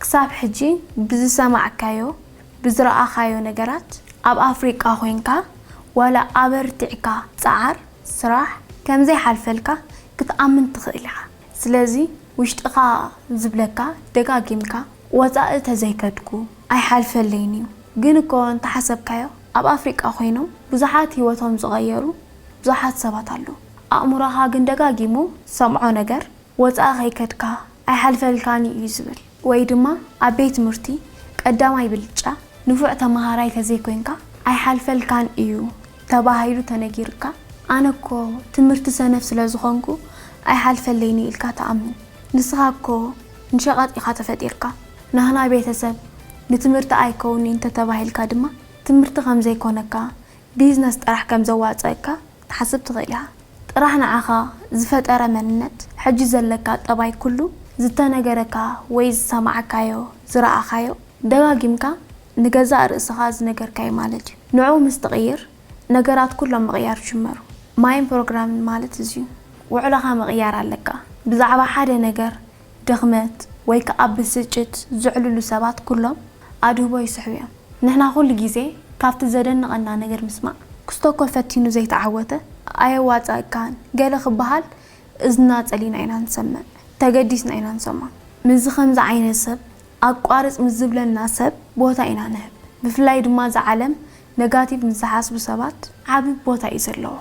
ክሳብ ሕጂ ብዝሰማዕካዮ ብዝረኣኻዮ ነገራት ኣብ ኣፍሪቃ ኮይንካ ዋላ ኣበርቲዕካ ጸዓር ስራሕ ከምዘይሓልፈልካ ክትኣምን ትኽእል ኢኻ ስለዚ ውሽጥኻ ዝብለካ ደጋጊምካ ወጻኢ ተዘይከድኩ ኣይሓልፈለይን እዩ ግን እኮ እንተሓሰብካዮ ኣብ ኣፍሪቃ ኮይኖም ብዙሓት ሂወቶም ዝቐየሩ ብዙሓት ሰባት ኣለዉ ኣእምሮኻ ግን ደጋጊሙ ዝሰምዖ ነገር ወጻኢ ከይከድካ ኣይሓልፈልካን ኢዩ ዝብል ወይ ድማ ኣብ ቤት ትምህርቲ ቀዳማይ ብልጫ ንፉዕ ተመሃራይ ተዘይኮይንካ ኣይሓልፈልካን ኢዩ ተባሂሉ ተነጊሩካ ኣነ እኮ ትምህርቲ ሰነፍ ስለ ዝኾንኩ ኣይሓልፈለይን'ዩ ኢልካ ትኣምን ንስኻ እኮ ንሸቐጥ ኢኻ ተፈጢርካ ናህና ቤተሰብ ንትምህርቲ ኣይከውን'ዩ እንተተባሂልካ ድማ ትምህርቲ ከምዘይኮነካ ቢዝነስ ጥራሕ ከምዘዋጽኣካ ክትሓስብ ትኽእል ኢኻ። ጥራሕ ንዓኻ ዝፈጠረ መንነት፣ ሕጂ ዘለካ ጠባይ ኩሉ ዝተነገረካ ወይ ዝሰማዕካዮ፣ ዝረኣኻዮ፣ ደጋጊምካ ንገዛእ ርእስኻ ዝነገርካዮ ማለት እዩ። ንዕኡ ምስ ትቕይር ነገራት ኩሎም ምቕያር ይጅመሩ። ማይን ፕሮግራምን ማለት እዚዩ። ውዕሎኻ ምቕያር ኣለካ። ብዛዕባ ሓደ ነገር። ድኽመት ወይ ከኣ ብስጭት ዘዕልሉ ሰባት ኩሎም ኣድህቦ ይስሕቡ እዮም። ንሕና ኩሉ ግዜ ካብቲ ዘደንቐና ነገር ምስማዕ፣ ክስቶ እኮ ፈቲኑ ዘይተዓወተ ኣየዋጽኣካን ገለ ክበሃል እዝንና ጸሊና ኢና ንሰምዕ፣ ተገዲስና ኢና ንሰምዖ። ምስዚ ከምዚ ዓይነት ሰብ ኣቋርጽ ምስ ዝብለና ሰብ ቦታ ኢና ንህብ። ብፍላይ ድማ እዛ ዓለም ነጋቲቭ ምስ ዝሓስቡ ሰባት ዓቢ ቦታ እዩ ዘለዋ።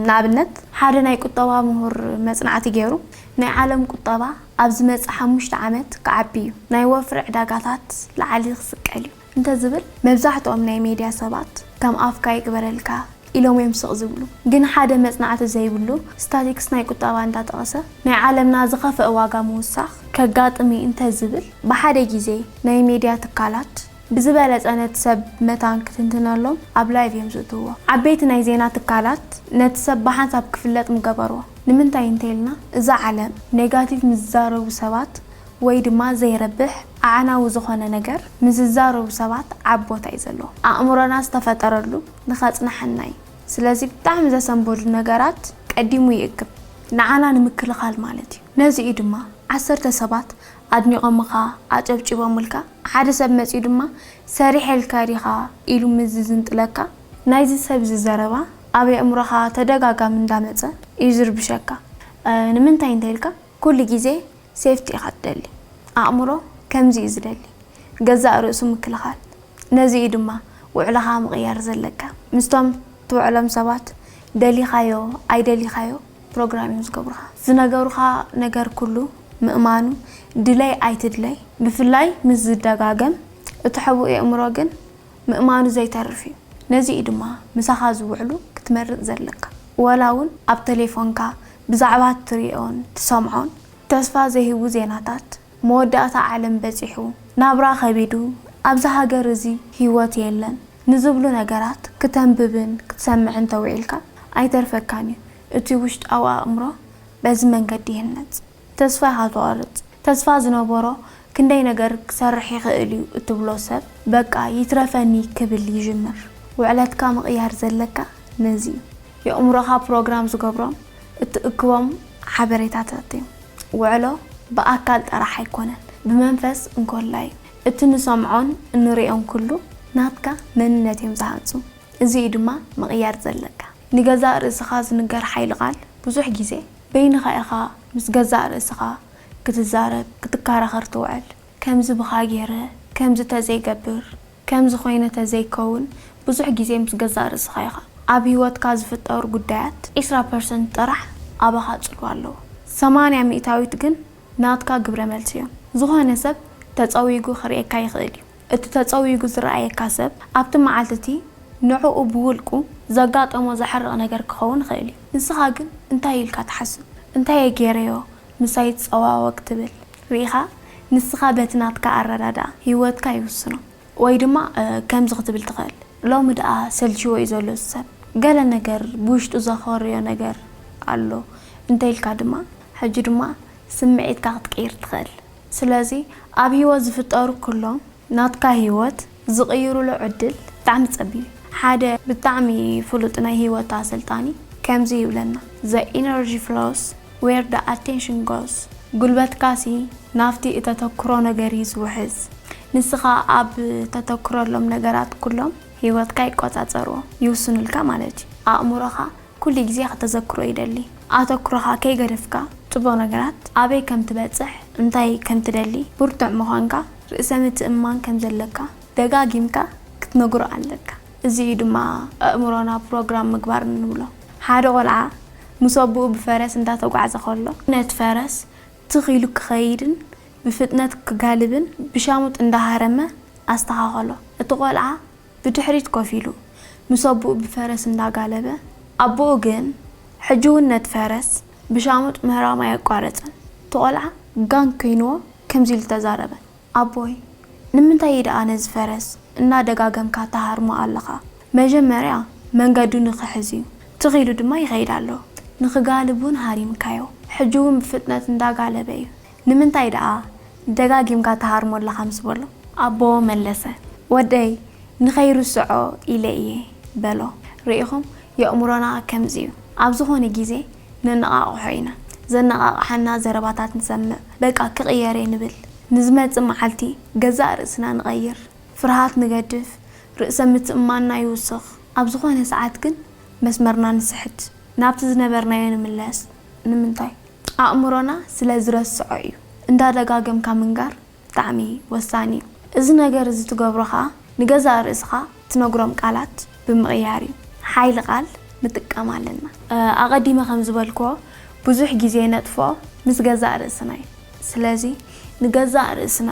ንኣብነት ሓደ ናይ ቁጠባ ምሁር መጽናዕቲ ገይሩ ናይ ዓለም ቁጠባ ኣብ ዝመጽእ ሓሙሽተ ዓመት ክዓቢ እዩ፣ ናይ ወፍሪ ዕዳጋታት ላዕሊ ክስቀል እዩ እንተ ዝብል መብዛሕትኦም ናይ ሜድያ ሰባት ከም ኣፍካ ይግበረልካ ኢሎም እዮም ስቕ ዝብሉ። ግን ሓደ መጽናዕቲ ዘይብሉ ስታቲክስ ናይ ቁጠባ እንዳጠቐሰ ናይ ዓለምና ዝኸፍኣ ዋጋ ምውሳኽ ከጋጥም እዩ እንተ ዝብል ብሓደ ግዜ ናይ ሜድያ ትካላት ብዝበለጸ ነቲ ሰብ መታን ክትንትነሎም ኣብ ላይቭ እዮም ዝእትውዎ። ዓበይቲ ናይ ዜና ትካላት ነቲ ሰብ ብሓንሳብ ክፍለጥ ምገበርዎ። ንምንታይ እንተይልና እዛ ዓለም ኔጋቲቭ ምስ ዝዛረቡ ሰባት ወይ ድማ ዘይረብሕ ኣዕናዊ ዝኾነ ነገር ምስ ዝዛረቡ ሰባት ዓቢ ቦታ እዩ ዘለዎም። ኣእምሮና ዝተፈጠረሉ ንኸጽንሓና እዩ። ስለዚ ብጣዕሚ ዘሰንበዱ ነገራት ቀዲሙ ይእክብ። ንዓና ንምክልኻል ማለት እዩ። ነዚ እዩ ድማ ዓሰርተ ሰባት ኣድኒቖምኻ ኣጨብጪቦምልካ፣ ሓደ ሰብ መጺኡ ድማ ሰሪሐልካ ዲኻ ኢሉ ምስ ዝዝንጥለካ፣ ናይዚ ሰብዚ ዘረባ ኣብ የእምሮኻ ተደጋጋሚ እንዳመጸ እዩ ዝርብሸካ፣ ንምንታይ እንተኢልካ ኩሉ ግዜ ሴፍቲ ኢኻ ትደሊ፣ ኣእምሮ ከምዚ እዩ ዝደሊ፣ ገዛእ ርእሱ ምክልኻል፣ ነዚ እዩ ድማ ውዕሎኻ ምቕያር ዘለካ፣ ምስቶም ትውዕሎም ሰባት ደሊኻዮ ኣይደሊኻዮ፣ ፕሮግራም እዮም ዝገብሩኻ ዝነገሩኻ ነገር ኩሉ ምእማኑ ድለይ ኣይትድለይ ብፍላይ ምስ ዝደጋገም እቲ ሕቡእ የእምሮ ግን ምእማኑ ዘይተርፍ እዩ ነዚ እዩ ድማ ምሳኻ ዝውዕሉ ክትመርጽ ዘለካ ወላ ውን ኣብ ተሌፎንካ ብዛዕባ ትሪኦን ትሰምዖን ተስፋ ዘይህቡ ዜናታት መወዳእታ ዓለም በጺሑ፣ ናብራ ከቢዱ፣ ኣብዛ ሃገር እዚ ህይወት የለን ንዝብሉ ነገራት ክተንብብን ክትሰምዕን ተውዒልካ ኣይተርፈካን እዩ። እቲ ውሽጣዊ ኣእምሮ በዚ መንገዲ ይህነጽ። ተስፋ ኢኻ ትቖርጽ። ተስፋ ዝነበሮ ክንደይ ነገር ክሰርሕ ይኽእል እዩ እትብሎ ሰብ በቃ ይትረፈኒ ክብል ይጅምር። ውዕለትካ ምቕያር ዘለካ ነዚ እዩ። የእምሮኻ ፕሮግራም ዝገብሮም እትእክቦም ሓበሬታታት እዮም። ውዕሎ ብኣካል ጥራሕ ኣይኮነን ብመንፈስ እንኮላይ እቲ ንሰምዖን እንሪኦን ኩሉ ናትካ መንነት እዮም ዝሃንጹ እዚ እዩ ድማ ምቕያር ዘለካ ንገዛእ ርእስኻ ዝንገር ሓይሊ ቃል ብዙሕ ግዜ በይንኻ ኢኻ ምስ ገዛእ ርእስኻ ክትዛረብ ክትከራኸር ትውዕል ከምዚ ብኻ ጌረ ከምዚ ተዘይገብር ከምዚ ኮይነ ተዘይከውን ብዙሕ ግዜ ምስ ገዛእ ርእስኻ ኢኻ ኣብ ሂወትካ ዝፍጠሩ ጉዳያት ዕስራ ፐርሰንት ጥራሕ ኣባኻ ጽልዋ ኣለዎ ሰማንያ ሚእታዊት ግን ናትካ ግብረ መልሲ እዮም ዝኾነ ሰብ ተጸዊጉ ክርእየካ ይኽእል እዩ እቲ ተጸዊጉ ዝረኣየካ ሰብ ኣብቲ መዓልቲ እቲ ንዕኡ ብውልቁ ዘጋጠሞ ዘሕርቕ ነገር ክኸውን ይኽእል እዩ ንስኻ ግን እንታይ ኢልካ ትሓስብ እንታየ ጌረዮ ምሳይ ይጸዋወግ ትብል ርኢኻ ንስኻ በቲ ናትካ ኣረዳድኣ ሂወትካ ይውስኖ ወይ ድማ ከምዚ ክትብል ትኽእል ሎሚ ድኣ ሰልቺዎ እዩ ዘሎ እዚ ሰብ ገለ ነገር ብውሽጡ ዘኾርዮ ነገር ኣሎ እንተ ኢልካ ድማ ሕጂ ድማ ስምዒትካ ክትቅይር ትኽእል ስለዚ ኣብ ሂወት ዝፍጠሩ ኩሎም ናትካ ሂወት ዝቅይሩሉ ዕድል ብጣዕሚ ጸቢብ እዩ። ሓደ ብጣዕሚ ፍሉጥ ናይ ህይወት ኣሰልጣኒ ከምዚ ይብለና። The energy flows where the attention goes ጉልበትካሲ ናብቲ እተተኩሮ ነገር እዩ ዝውሕዝ። ንስኻ ኣብ ተተኩረሎም ነገራት ኩሎም ህይወትካ ይቆጻጸርዎ፣ ይውስኑልካ ማለት እዩ። ኣእምሮኻ ኩሉ ግዜ ከተዘክሮ ይደሊ ኣተኩሮኻ ከይገደፍካ ጽቡቕ ነገራት ኣበይ ከም ትበጽሕ እንታይ ከም ትደሊ ብርቱዕ ምዃንካ ርእሰ ምትእምማን ከም ዘለካ ደጋጊምካ ክትነግሮ ኣለካ እዚ እዩ ድማ ኣእምሮና ፕሮግራም ምግባር እንብሎ ሓደ ቆልዓ ምስ ኣቡኡ ብፈረስ እንዳተጓዕዘ ከሎ ነቲ ፈረስ ትኽ ኢሉ ክኸይድን ብፍጥነት ክጋልብን ብሻሙጥ እንዳሃረመ ኣስተኻኸሎ እቲ ቆልዓ ብድሕሪት ኮፍ ኢሉ፣ ምስ ኣቦኡ ብፈረስ እንዳጋለበ፣ ኣቦኡ ግን ሕጂ ውን ነቲ ፈረስ ብሻሙጥ ምህራም ኣየቋረጸን፣ እቲ ቆልዓ ጋን ኮይንዎ ከምዚ ኢሉ ተዛረበ፣ ኣቦይ ንምንታይ ኢደኣ ነዚ ፈረስ እናደጋገምካ ትሃርሞ ኣለኻ፣ መጀመርያ መንገዱ ንኽሕዝ ዩ፣ ትኽ ኢሉ ድማ ይኸይድ ኣሎ፣ ንኽጋልብ ውን ሃሪምካዮ፣ ሕጂ ውን ብፍጥነት እንዳጋለበ ዩ፣ ንምንታይ ደኣ ደጋጊምካ ትሃርሞ ኣለኻ ምስ በሎ። ኣቦ መለሰ። ወደይ ንኸይርስዖ ኢለ እየ በሎ። ርኢኹም፣ የእምሮና ከምዚ እዩ። ኣብ ዝኾነ ግዜ ነነቓቕሖ ኢና። ዘነቓቕሓና ዘረባታት ንሰምዕ፣ በቃ ክቕየር እየ ንብል። ንዝመጽእ መዓልቲ ገዛእ ርእስና ንቐይር፣ ፍርሃት ንገድፍ፣ ርእሰ ምትእምማንና ይውስኽ። ኣብ ዝኾነ ሰዓት ግን መስመርና ንስሕት፣ ናብቲ ዝነበርናዮ ንምለስ። ንምንታይ? ኣእምሮና ስለ ዝረስዖ እዩ። እንዳ ደጋገምካ ምንጋር ብጣዕሚ ወሳኒ እዩ። እዚ ነገር እዚ ትገብሮ ከኣ ንገዛእ ርእስኻ ትነግሮም ቃላት ብምቕያር እዩ። ሓይሊ ቃል ንጥቀም ኣለና። ኣቐዲመ ከም ዝበልክዎ ብዙሕ ግዜ ነጥፍኦ ምስ ገዛእ ርእስና እዩ። ስለዚ ንገዛእ ርእስና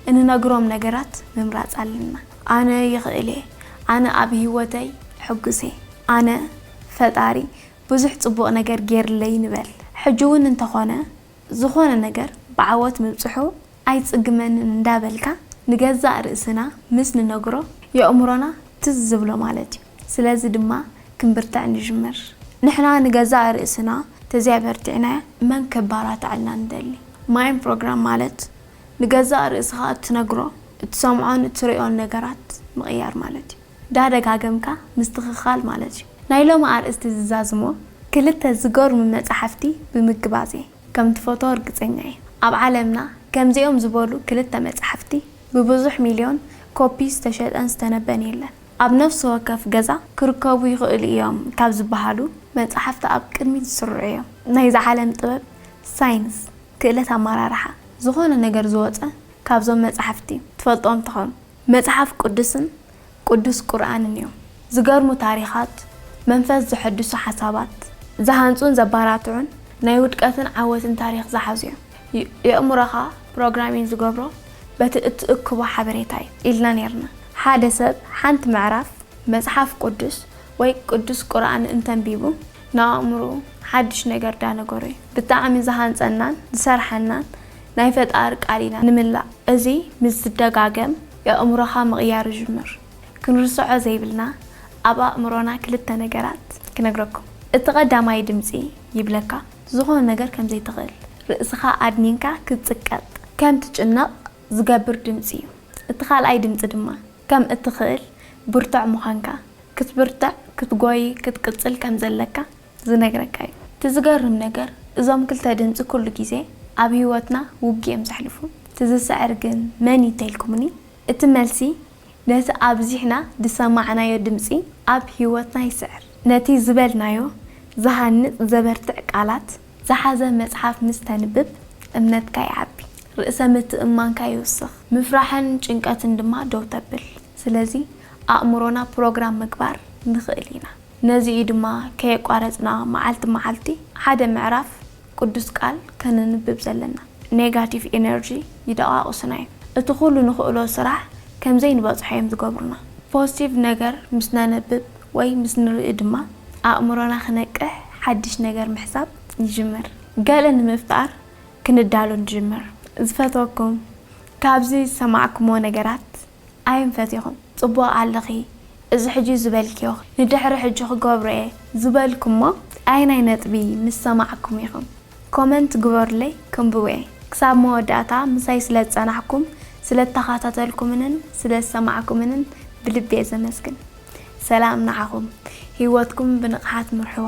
እንነግሮም ነገራት ምምራጽ ኣለና። ኣነ ይኽእል እየ። ኣነ ኣብ ህይወተይ ሕጉስ እየ። ኣነ ፈጣሪ ብዙሕ ጽቡቕ ነገር ጌርለይ ንበል ሕጂውን እንተኾነ ዝኾነ ነገር ብዓወት ምብጽሑ ኣይጽግመንን እንዳበልካ ንገዛእ ርእስና ምስ ንነግሮ የእምሮና ትዝ ዝብሎ ማለት እዩ ስለዚ ድማ ክንብርትዕ ንጅምር ንሕና ንገዛእ ርእስና ተዘይኣበርቲዕና መን ከባራትዐልና ንደሊ ማይን ፕሮግራም ማለት ንገዛእ ርእስኻ እትነግሮ እትሰምዖን እትርእዮን ነገራት ምቕያር ማለት እዩ። እንዳ ደጋገምካ ምስትኽኻል ማለት እዩ። ናይ ሎሚ ኣርእስቲ ዝዛዝሞ ክልተ ዝገርሙ መጻሕፍቲ ብምግባዝ እየ። ከም ትፈትዎ ርግጸኛ እየ። ኣብ ዓለምና ከምዚኦም ዝበሉ ክልተ መጻሕፍቲ ብብዙሕ ሚልዮን ኮፒ ዝተሸጠን ዝተነበን የለን። ኣብ ነፍሲ ወከፍ ገዛ ክርከቡ ይኽእሉ እዮም ካብ ዝበሃሉ መጻሕፍቲ ኣብ ቅድሚት ዝስርዑ እዮም። ናይዚ ዓለም ጥበብ፣ ሳይንስ፣ ክእለት ኣመራርሓ፣ ዝኾነ ነገር ዝወጸ ካብዞም መጻሕፍቲ እዩ። ትፈልጥዎም ትኾኑ። መጽሓፍ ቅዱስን ቅዱስ ቁርኣንን እዮም። ዝገርሙ ታሪኻት፣ መንፈስ ዘሐድሱ ሓሳባት፣ ዝሃንጹን ዘባራትዑን ናይ ውድቀትን ዓወትን ታሪኽ ዝሓዙ እዮም። የእምሮኻ ፕሮግራሚን ዝገብሮ በቲ እትእክቦ ሓበሬታ እዩ ኢልና ኔርና። ሓደ ሰብ ሓንቲ ምዕራፍ መጽሓፍ ቅዱስ ወይ ቅዱስ ቁርኣን እንተንቢቡ ንኣእምሩኡ ሓድሽ ነገር ዳነገሮ እዩ ብጣዕሚ ዝሃንጸናን ዝሰርሓናን ናይ ፈጣሪ ቃል ኢና ንምላእ እዚ ምስ ዝደጋገም የእምሮኻ ምቕያር ይጅምር። ክንርስዖ ዘይብልና ኣብ ኣእምሮና ክልተ ነገራት ክነግረኩም እቲ ቀዳማይ ድምጺ ይብለካ ዝኾነ ነገር ከም ዘይትኽእል ርእስኻ ኣድኒንካ ክትጽቀጥ ከም ትጭነቕ ዝገብር ድምጺ ዩ እቲ ካልኣይ ድምጺ ድማ ከም እትኽእል ብርቱዕ ምዃንካ ክትብርትዕ ክትጎዪ ክትቅጽል ከም ዘለካ ዝነግረካ እዩ። እቲ ዝገርም ነገር እዞም ክልተ ድምጺ ኩሉ ግዜ ኣብ ሂወትና ውግእ እዮም ዘሕልፉ። እቲ ዝስዕር ግን መን እዩ ተልኩምኒ እቲ መልሲ ነቲ ኣብዚሕና ዝሰማዕናዮ ድምጺ ኣብ ሂወትና ይስዕር። ነቲ ዝበልናዮ ዝሃንጽ ዘበርትዕ ቃላት ዝሓዘ መጽሓፍ ምስ ተንብብ እምነትካ ይዓቢ፣ ርእሰ ምትእምማንካ ይውስኽ፣ ምፍራሕን ጭንቀትን ድማ ደው ተብል። ስለዚ ኣእምሮና ፕሮግራም ምግባር ንኽእል ኢና። ነዚ እዩ ድማ ከየቋረጽና መዓልቲ መዓልቲ ሓደ ምዕራፍ ቅዱስ ቃል ከነንብብ ዘለና። ኔጋቲቭ ኢነርጂ ይደቓቕሱና እዮም። እቲ ኩሉ ንኽእሎ ስራሕ ከም ዘይንበጽሖ እዮም ዝገብሩና። ፖዝቲቭ ነገር ምስ ነንብብ ወይ ምስ ንርኢ ድማ ኣእምሮና ክነቅሕ ሓድሽ ነገር ምሕሳብ ይጅምር። ገለ ንምፍጣር ክንዳሎ ንጅምር። ዝፈትወኩም ካብዚ ዝሰማዕኩሞ ነገራት ኣይንፈት ኢኹም ጽቡቕ ኣለኺ እዚ ሕጂ ዝበልክዮ ንድሕሪ ሕጂ ክገብሮ እየ ዝበልኩሞ ኣየናይ ነጥቢ ምስ ሰማዕኩም ኢኹም ኮመንት ግበሩለይ ከንብቦ እየ ክሳብ መወዳእታ ምሳይ ስለ ዝጸናሕኩም ስለ ተኻታተልኩምንን ስለ ዝሰማዕኩምንን ብልቢ እየ ዘመስግን ሰላም ንዓኹም ሂወትኩም ብንቕሓት ምርሕዋ።